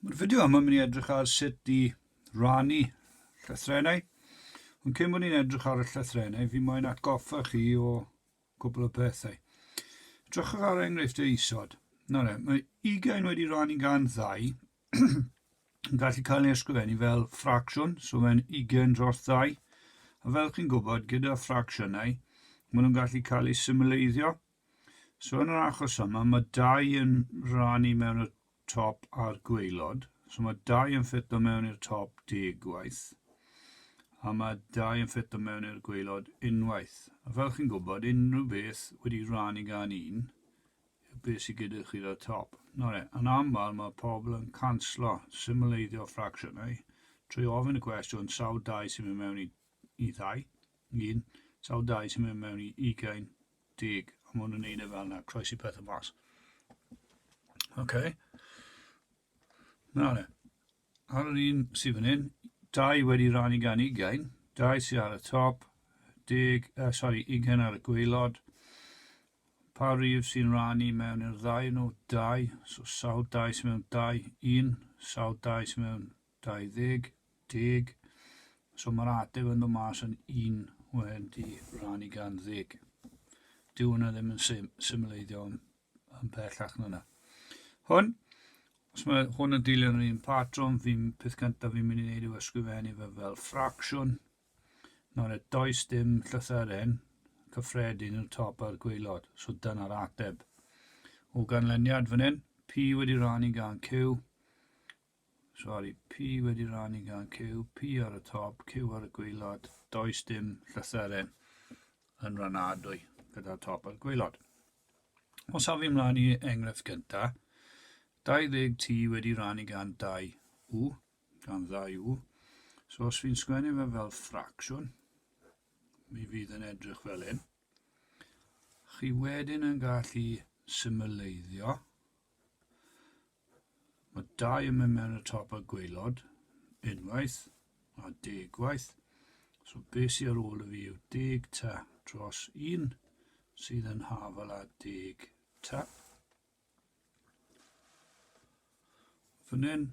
Mae'r fideo yma yn mynd i edrych ar sut i rannu llythrenau. Ond cyn bod ni'n edrych ar y llythrenau, fi moyn atgoffa chi o cwbl o pethau. Edrychwch ar enghreifftiau isod. Na le, mae ugain wedi rannu gan ddau yn gallu cael ei ysgrifennu fel ffracsiwn, so mae'n ugain dros ddau. A fel chi'n gwybod, gyda ffracsiynau, maen nhw'n gallu cael eu symleiddio, So yn yr achos yma, mae dau yn rannu mewn y top a'r gweilod. So mae dau yn ffitto mewn i'r top deg gwaith. A mae dau yn ffitto mewn i'r gweilod unwaith. A fel chi'n gwybod, unrhyw beth wedi rannu gan un, yw beth sydd gyda chi o'r top. Nawr e, yn aml mae pobl yn canslo symleiddio ffracsiynau trwy ofyn y cwestiwn sawl dau sy'n mynd mewn i, i ddau, un, sawl dau sy'n mynd mewn i ugain, Deg. A maen nhw'n neud e fel yna, croesi pethau mas. OK. Na le. Ar yr un sydd fan hyn, dau wedi rannu gan ugain, dau sydd ar y top, deg, uh, sorry, ugain ar y gweilod. Pa rif sy'n rannu mewn i'r ddau nhw? Dau. So sawl dau sy'n mewn dau? Un. Sawl dau sy'n mewn 20 deg, so mae'r ateb yn dod mas yn 1 wedi rhannu gan ddeg. Dyw hwnna ddim yn sim, symleiddio yn, yn pellach na hwnna. Hwn, os mae hwn yn dilyn yr un patrwm, fi'n peth cyntaf fi'n mynd i wneud yw ysgrifennu fe fel ffracsiwn. Nawr, et does dim llythyren cyffredin i'r top a'r gweilod, so dyna'r ateb. O ganlyniad fan hyn, P wedi rhannu gan Q, Sori, P wedi rannu gan Q, P ar y top, Q ar y gwaelod. Does dim llythyren yn ranadwy gyda'r top a'r gwaelod. Os haf i mlaen i enghraifft gynta, 20 T wedi rannu gan 2 U, gan 2 U. So os fi'n sgwennu fe fel ffracsiwn, mi fydd yn edrych fel hyn. Chi wedyn yn gallu symleiddio Mae dau yn mynd mewn y top a gwaelod, unwaith a deg waith. So beth sydd ar ôl y fi yw deg ta dros un sydd yn hafal a deg ta. Fan hyn,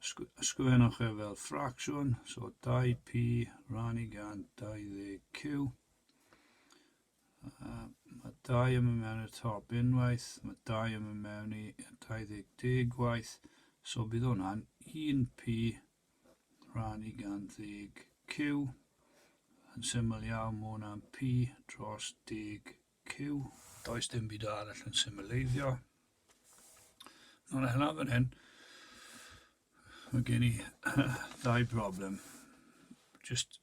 ysgrifennwch e fel ffracsiwn, so 2p rannu gan 20q. Mae dau yn mynd mewn i'r top unwaith, mae dau yn mynd mewn i 20 deg waith, so bydd hwnna'n 1p rhan i gan ddeg q, yn syml iawn mae hwnna'n p dros deg q. Does dim byd arall yn symleiddio. Nawr a hynna fan hyn, mae gen i ddau broblem. Just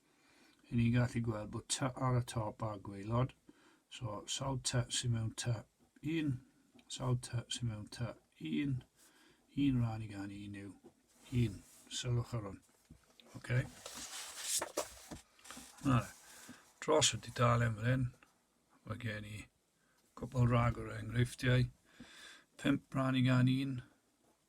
Yn ni'n gallu gweld bod ty ar y top a gwaelod. So sawl ty sy'n mewn ty? Un. Sawl ty sy'n mewn ty? Un. Un rhan i gan un yw un. Sylwch ar hwn. Okay. Nawr, dros y dudalen fan hyn, mae gen i cwbl rhag o'r enghreifftiau. Pimp rhan i gan un.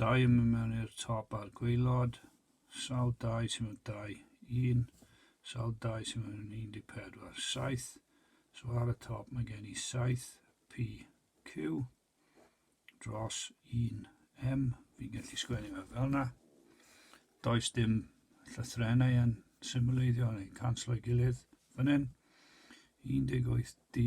Dau yn mynd mewn i'r top a'r gwaelod. Sawl dau sy'n mynd dau? Un. Sawl dau sy'n mynd yn 14? Saith. So ar y top mae gen i saith P, Q dros un M. Fi'n gallu sgwennu fe fel yna. Does dim llythrennau yn symboleiddio neu canslo'i gilydd fan hyn. 18 D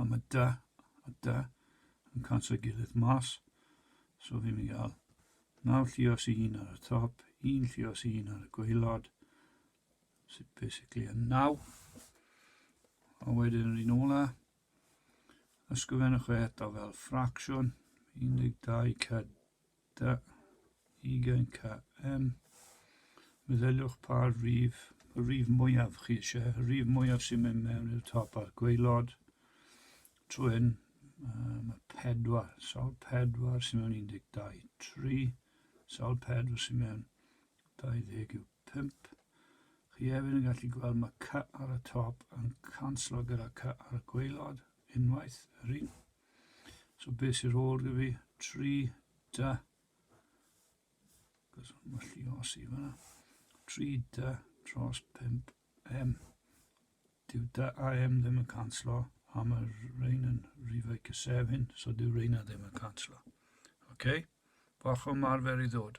a mae da a da yn canslo ei gilydd mas so fi'n mynd i gael naw llios i un ar y top un llios i un ar y gweilod sydd basically yn naw a wedyn yr un ola ysgrifennwch e eto fel ffracsiwn 12 cyd Da, ugain ca. Yym, meddyliwch pa rif, y rif mwyaf chi eisiau, y rif mwyaf sy'n mynd mewn i'r top a'r gweilod. Trwyn, um, y pedwar, sawl pedwar sy'n mewn 12, 3, sawl pedwar sy'n mewn 20 yw 5. Chi hefyd yn gallu gweld mae cy ar y top yn canslo gyda cy ar y gweilod, unwaith, yr un. So beth sy'n rôl gyda fi? 3, da. Cos mae'n lli o si fanna. 3, da, tros 5, m. Dyw da a m ddim yn canslo, a mae rhain yn rhifau cysefin, so dyw rhain ddim yn canslo. OK? Bach o marfer i ddod.